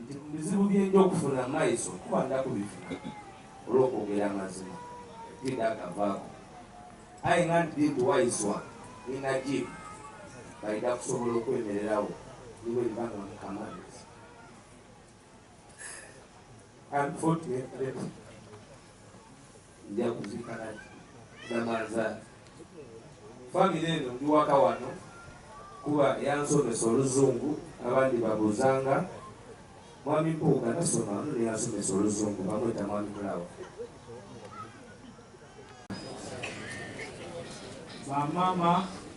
nti mu bizibu bye nja okufuna maiso kuba nda kubifuna olw'okwogera amazima nti nda gavaako aye nga nti nti waiswa ninajibu balina kusobola okwemererawo niwe libanga mukamaliza unfortunately Nja kuzika na Namanzaali. Family eno ndi waka wano kuba yansomesa oluzungu abandi babuzanga mwami Mpuuga nasoma wano naye yansomesa oluzungu bamweta mwami Mulawa. Ba mama.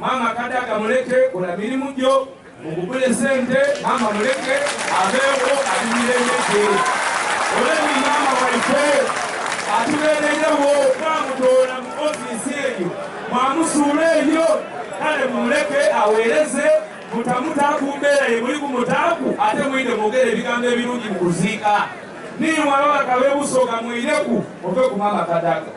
Maama kadaga muleke kola mirimu gyo mugugule sente maama muleke abeewo abimiremege oleni maama waife atubeererewo twamutoola mu ofiisi eyo mwamusuula eyo kale mumuleke aweereze mutamuta ku mbeera ye muli kumutaaku ate mwine mwogera ebigambo ebirungi mu kuziika niiwalabaka bebusoga mwineku ove ku maama kadaga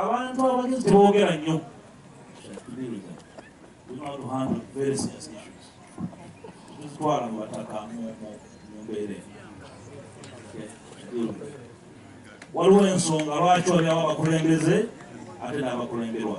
abantu abagezi tebogera nnyo tuzitwala mu bataka mu mbeera waliwo ensonga lwaki waliawo abakulembeze ate n'abakulemberwa